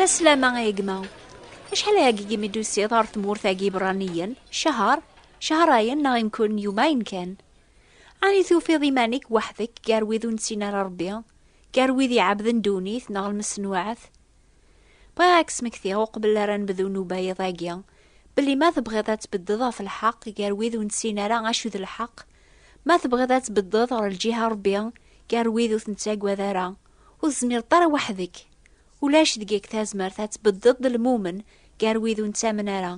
La slama ay gma. Acḥal ay agigim i d-tusiḍ ɣer tmurt agi iberraniyen? Cahar? Cahar ayen neɣ imkun yuma ayen kan. Ani tufiḍ iman-ik weḥd-k gar wid ur nettin ara Rebbi, gar wid iɛebden ddunit neɣ lmesnuɛat? Bɣiɣ ad k-smektiɣ uqbel ara nebdu nubayeḍ-agi, belli ma tebɣiḍ ad tbeddeḍ ɣef lḥeq gar wid ur nessin ara acu d lḥeq, ma tebɣiḍ ad tbeddeḍ ɣer lǧiha Rebbi gar wid ur ten-ttagad ara, ur tezmireḍ ara weḥd-k. Ulac deg-k tazmert ad tbeddeḍ d lmumen gar wid ur nettamen ara,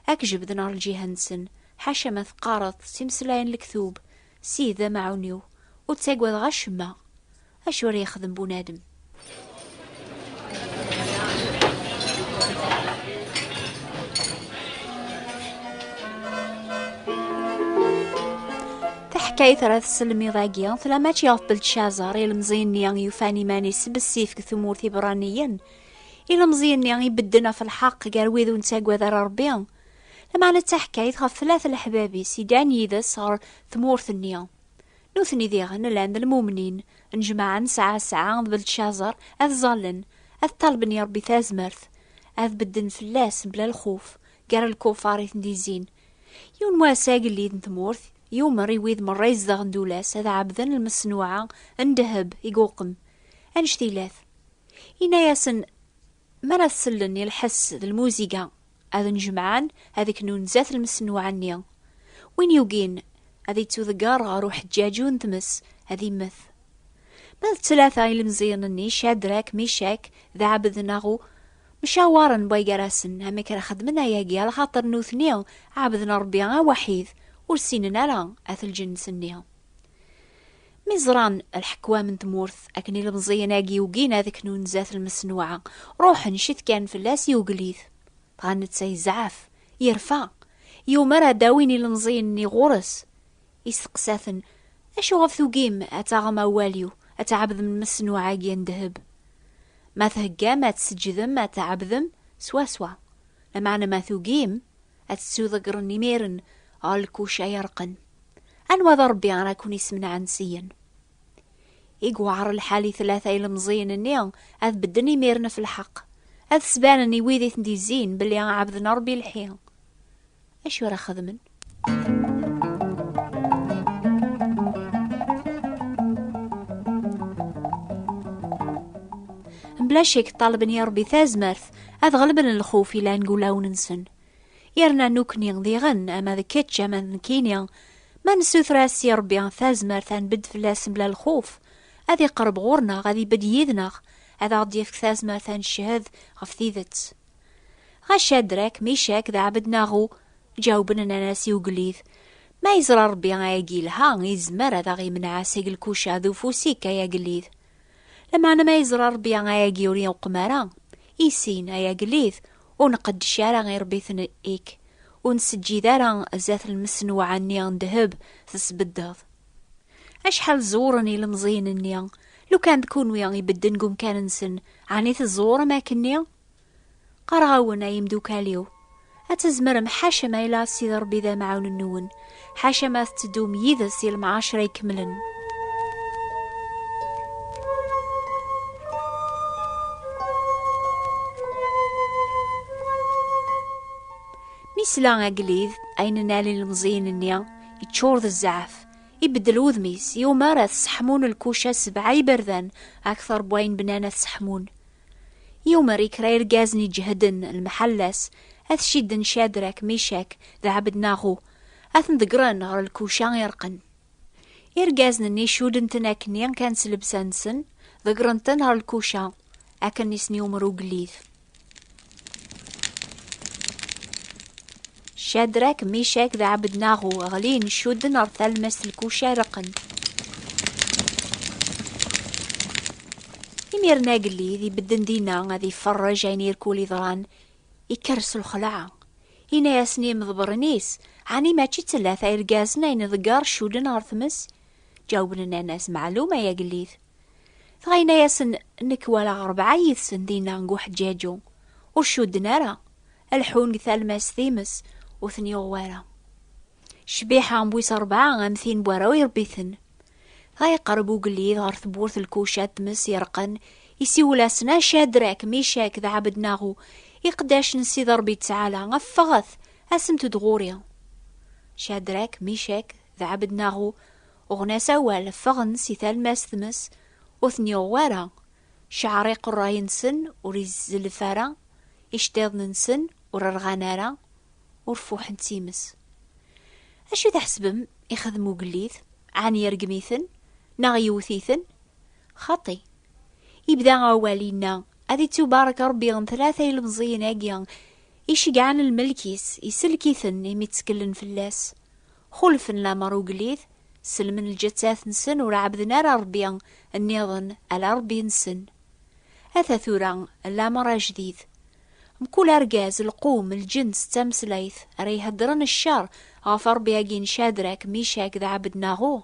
ad k-jebden ɣer lǧiha-nsen, ḥaca ma teqqareḍ-t s imeslayen n lektub, Sidi d amaɛun-iw, ur ttagadeɣ acemma. Acu ara yexdem bunadem? Taḥkayt ara tesselmiḍ agi tella mačči ɣef Beltcazer ilemẓi-nni yufan iman-is bessif deg tmurt Ibraniyen ilemẓi-nni ibedden ɣef lḥeqq gar wid ur nettagad ara Rebbi lameɛna d taḥkayt ɣef tlata leḥbab-is yeddan yid-s ɣer tmurt-nni Nutni diɣen llan d lmumnin n jmaɛa n Sɛasɛa d Beltcaẓer, ad ẓallen, ad ṭalben i Ṛebbi tazmert, ad bedden fell-as mebla lxuf, gar lkufar i ten-d-izzin. Yiwen wass agellid n tmurt yumer i wid meṛṛa izedɣen d ul-as ad ɛebden lmeṣnuɛa n ddheb i yuqem, anect ilat. Yenna-yasen, Mi ara tsellen i lḥess d lmuziga, ad njemɛen ad ik nunzat lmesnuɛ-nni. Win yugin ad yettudegger ɣer uḥeǧǧaǧu n tmes, ad immet. Ma d tlata ilemẓiyen-nni Cadrak, Micak d Ɛebednaɣu mcawaren way gar-asen amek ara xedmen ayagi axaṭer nutni ɛebden Ṛebbi awaḥid, ur ssinen ara at lǧenns-nni. Mi ẓran lḥekwam n tmurt akken ilemẓiyen-agi ugin ad knun zdat lmesnuɛa, ruḥen citkan fell-as i ugellid. Dɣa netta yezɛef, yerfa, yumer ad d-awin ilemẓiyen-nni ɣur-s. Isteqsa-ten, Acuɣef tugim ad taɣem awal-iw, ad tɛebdem lmesnuɛa-agi n ddheb? Ma theggam ad tseǧǧdem ad tɛebdem, swaswa. Lameɛna ma tugim, ad tettuḍeggren imir-n ɣer lkuca yerqen. Anwa d Ṛebbi ara ken-issemneɛen syen? I yewɛer lḥal i tlata ilemẓiyen-nni ad bedden imir-n ɣef lḥeqq, ad sbanen i wid i ten-izzin belli ɛebden Ṛebbi lḥi. Acu ara xedmen? Mebla ccek ṭṭalben i Ṛebbi tazmert ad ɣelben lxuf yellan deg wulawen-nsen. yerna nukni diɣen ama d kečč ama d nekini ma nessuter-as i Rebbi tazmert ad nbedd fell-as mebla lxuf ad iqerreb ɣur-neɣ ad ibedd yid-neɣ ad aɣ-d-yefk tazmert ad neched ɣef tidet ɣa Cadrak, Micak d Ɛebednaɣu ǧawben nnan-as i ugellid ma yeẓra Rebbi ayagi yelha yezmer ad aɣ-yemneɛ seg lkuca d ufus-ik ay agellid lameɛna ma yeẓra Rebbi ayagi ur yenqum ara isin ay agellid Ur nqeddec ara iṛebbiten ik, ur nseǧǧid ara zdat lmesnuɛa-nni n ddheb tesbeddeḍ. Acḥal ẓewren ilemẓiyen-nni, lukan d kunwi i bedden deg umkan-nsen, ɛni tẓewrem akkenni? Qqareɣ-awen, ay imdukal-iw, ad tzemrem, ḥaca ma yella Sidi Ṛebbi d amɛawen-nwen, ḥaca ma tetteddum yid-s i lemɛacer ay kemmlen. Mi sla agellid ayen nali lemẓiyen-nni iččur d zzeɛf, ibeddel wudem-is, yumar ad seḥmun lkuca sebɛa iberdan akteṛ n wayen bnan ad seḥmun. Yumer i kra irgazen iǧehden lmeḥalla-s, ad cidden Cadrak, Micak d Ɛebednaɣu, ad ten-ḍeggren ɣer lkuca ireqqen. Irgazen-nni cudden-ten akkenni kan s llebsa-nsen, ḍeggren-ten ɣer lkuca, akken i sen-yumer ugellid. Cadrak, Micak d Ɛebednaɣu ɣlin, cudden ɣer talmest n lkuca reqqen. Imiren agellid ibedden dinna ad iferrej ayen irkul iḍran, ikker s lxelɛa. Ina-yasen i imḍebren-is, ɛni mačči d tlata irgazen ay nḍegger cudden ɣer tmes? Ǧawben nnan-as, Meɛlum ay agellid. Dɣa ina-yasen, Nekk walaɣ rebɛa yid-sen dinna deg uḥeǧǧaǧu, ur cudden ara. Alḥun deg talmast times ur ten yuɣ wara. Cbiḥa n wis rebɛa am tin n warraw irebbiten. Dɣa yeqreb ugellid ɣer tewwurt lkuca n tmes yerqen, isiwel-asen a Cadrak, Micak d Ɛebednaɣu, iqeddac n Sidi Ṛebbi Ttɛala, ffɣet, asemt-d ɣur-i. Cadrak, Micak d Ɛebednaɣu uɣen-as awal, ffɣen si talmast tmes, ur ten yuɣ wara, Ceɛriq ṛṛay-nsen ur izelf ara, iceṭṭiḍen-nsen ur rɣan ara, ur fuḥen d times. Acu i tḥesbem ixedm ugellid? Ɛni irgem-iten neɣ yewwet-iten? Xaṭi! Yebda awal yenna, Ad ittubarek Ṛebbi n tlata ilemẓiyen-agi, i iceggɛen lmelk-is, isellek-iten imi tteklen fell-as. Xulfen lamer uglit, sellmen lǧettat-nsen ur ɛebden ara Rebbi nniḍen ala Rebbi-nsen. Ata tura lamer ajdid. Mkul argaz, lqum, lǧens, d tameslayt ara iheddren ccer ɣef Rebbi-agi n Cadrak, Micak d Ɛebednaɣu,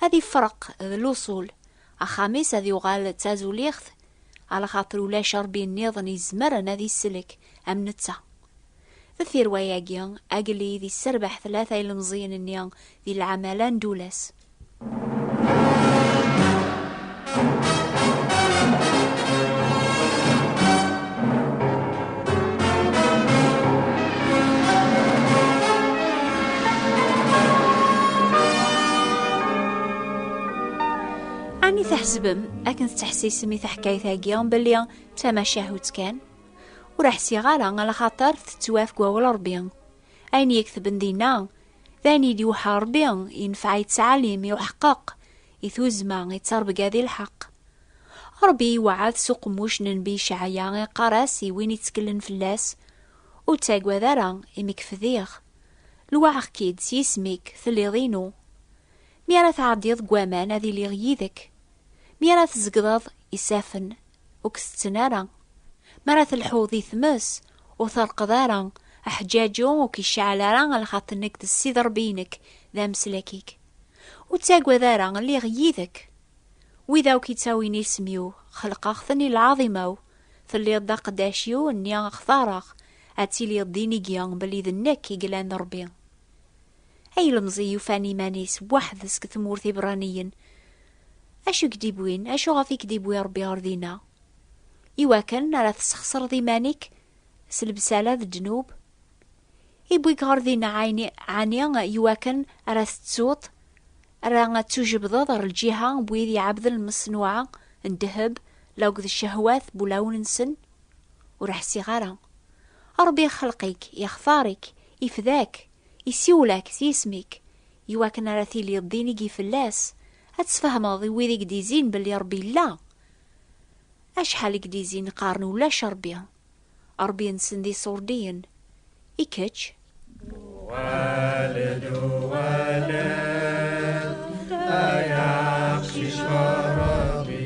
ad ifreq d luṣul, axxam-is ad yuɣal d tazuliɣt, ala xaṭer ulac Rebbi nniḍen izemren ad isellek am netta. Deffir wayagi, agellid yesserbeḥ tlata ilemẓiyen-nni di lɛamala n Dulas. Ɛni tḥesbem akken tettḥessisem i taḥkayt-agi belli d tamacahut kan? Ur ḥsiɣ ara ala xaṭer tettwaf deg wawal Ṛebbi. Ayen yektben dinna, d ayen i d-iwḥa Ṛebbi, yenfeɛ i ttɛalim, i uḥeqqeq, i tuzzma, i ttarbga di lḥeqq. Ṛebbi iweɛɛed s uqemmuc n Nnbi Icɛaya, iqqar-as i win itteklen fell-as, Ur ttagad ara, imi kefdiɣ. Lwaɛeɣ-k-id s yisem-ik, telliḍ inu. Mi ara tɛeddiḍ deg waman, ad iliɣ yid-k. Mi ara tzegḍeḍ isaffen, ur k-setten ara. Mi ara telḥuḍ di tmes, ur terqeḍ ara, aḥǧaǧu ur k-iceɛɛel ara a lxaṭi nekk d Ssid Ṛebbi-inek d ameslak-ik. Ur ttagad ara, lliɣ yid-k. Wid akk ittawin isem-iw, xelqeɣ-ten i lɛaḍima-w, telliḍ d aqeddac-iw, nni xtaṛeɣ, ad tiliḍ d inigi belli d nekk i yellan d Ṛebbi. A ilemẓi yufan iman-is weḥd-s deg tmurt Ibeṛṛaniyen! Acu i k-d-iwwin, acu ɣef i k-d-iwwi Ṛebbi ɣer dinna? Iwakken ara tesxesreḍ iman-ik s lebsala d ddnub? Iwwi-k ɣer dinna ɛni iwakken ara tettuḍ, ara tujebdeḍ ɣer lǧiha n wid iɛabden lmeṣnuɛa n ddheb la akked ccehwat n wulawen-nsen? Ur ḥsiɣ ara. Ṛebbi ixelq-ik, ixtar-ik, ifda-k, isiwel-ak s yisem-ik, iwakken ara tiliḍ d inigi fell-as, ad tesfehmeḍ i wid i k-d-izin belli Ṛebbi yella. Acḥal i k-d-izin qqaren ulac Ṛebbi, Ṛebbi-nsen d iṣurdiyen. I kečč? Uɣal-d, uɣal-d, ay aqcic ɣer Ṛebbi.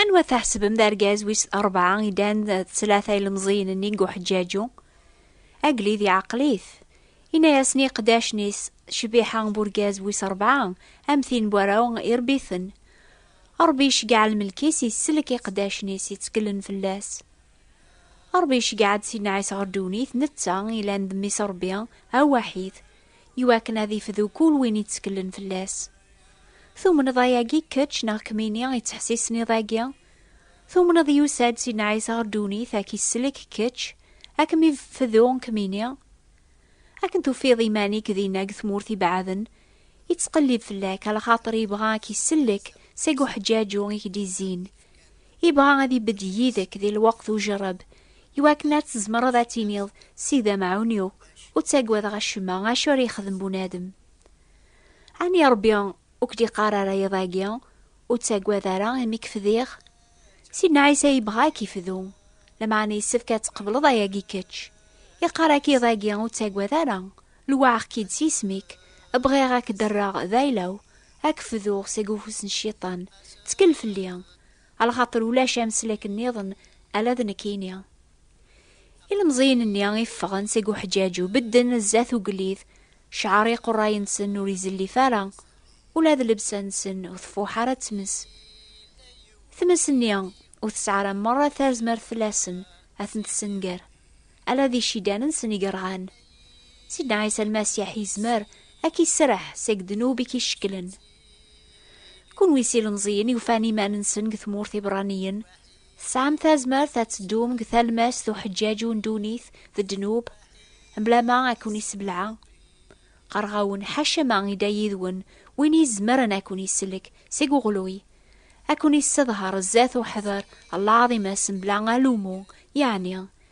Anwa tḥesbem d argaz wis rebɛa i dan d tlata ilemẓiyen-nni deg uḥeǧǧaǧu? Agellid iɛqel-it. Inna-yasen i iqeddacen-is, Cbiḥa n urgaz wis rebɛa, am tin n warraw, irebbi-ten. Ṛebbi iceggeɛ lmelk-is, isellek iqeddacen-is yettkellen fell-as. Ṛebbi iceggeɛ-d Sidna Ɛisa ɣer ddunit, netta, ilan d mmi-s Ṛebbi, awaḥid. Iwakken ad ifdu kul win itteklen fell-as. Tumneḍ ayagi kečč neɣ kmini ittḥessisen iḍ-agi? Tumneḍ yusa-d Sidna Ɛisa ɣer ddunit ad k-isellek kečč, ad kem-ifdu kmini? Akken tufiḍ iman-ik dinna deg tmurt ibeɛden, ittqellib fell-ak, a lxaṭer yebɣa ad k-isellek seg uḥeǧǧaǧu i k-d-izzin. Ibɣa ad ibedd yid-ek di lweqt ujerreb, iwakken ad tzemreḍ ad tiniḍ, Sidi d amɛun-iw, ur ttagadeɣ acemma, acu ara yexdem bunadem? Ɛni Rebbi ur k-d-iqqar ara iḍ-agi, Ur ttagad ara, imi k-fdiɣ? Sidna Ɛisa yebɣa ad k-ifdu, lameɛna yessefk ad tqebleḍ ayagi kečč. Iqqar-ak iḍ-agi, Ur ttagad ara, lewɛeɣ-k-id s yisem-ik, bɣiɣ ad k-d-rreɣ d ayla-w, Ad k-fduɣ seg ufus n Cciṭan, ttkel fell-i, alxaṭer ulac ameslak nniḍen ala d nekkini. Ilemẓiyen-nni i ffɣen seg uḥeǧǧaǧu bedden zdat ugellid, cceɛr iqurray-nsen ur izellif ara, ula d llebsa-nsen ur tfuḥ ara d tmes. Tmes-nni ur tesɛi ara merra tarzmert fell-asen ad ten-tessenger, ala d icidan-nsen i yerɣan. Sidna Ɛisa Lmasiḥ yezmer ad k-iserreḥ seg ddnub i k-icekklen. Kunwi s ilemẓiyen yufan iman-nsen deg tmurt Ibraniyen, tesɛam tazmert ad teddum deg talmast uḥeǧǧaǧ u ddunit d ddnub, mebla ma ad ken-issebleɛ. Qqareɣ-awen, ḥaca ma idda yid-wen win izemren ad ken-isellek seg uɣelluy, ad ken-isseḍher zdat uḥder Lɛaḍimas mebla alumu, yeɛni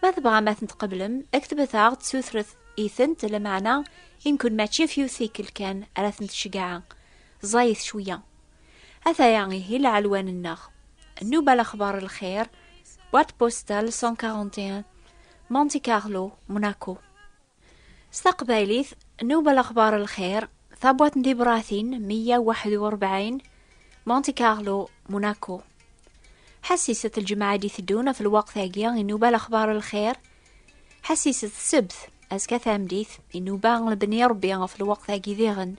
Ma tebɣam ad tent-tqeblem, ktbet-aɣ-d sutret-itent, lameɛna i nkun mačči f yiwet tikkelt kan ara tent-cegɛa, ẓẓayet cwiya. Ataya ihi lɛelwan-nneɣ. Nnuba lexbar n lxir, boîte postale 141, Monte Carlo, Monaco. S taqbaylit, Newwel Axbaṛ Lxir, tabwaṭ n tibratin 141, Monte Carlo, Monaco. Ḥassiset lǧemɛa d iteddun ɣef lweqt-agi i Newwel Axbaṛ Lxir. Ḥassiset ssebt, azekka tameddit, i Newwel Lebni Ṛebbi ɣef lweqt-agi diɣen.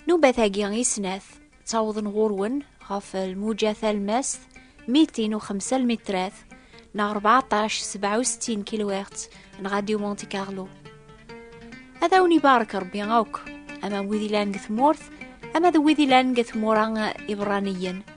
Nubat-agi i snat ttawḍen ɣur-wen ɣef lmuja talmast 205 lmitrat neɣ 1467 kilohertz n Radio Monte Carlo. Ad awen ibarek Rebbi akk, ama wid ilan deg tmurt, ama d wid ilan deg tmura iberraniyen.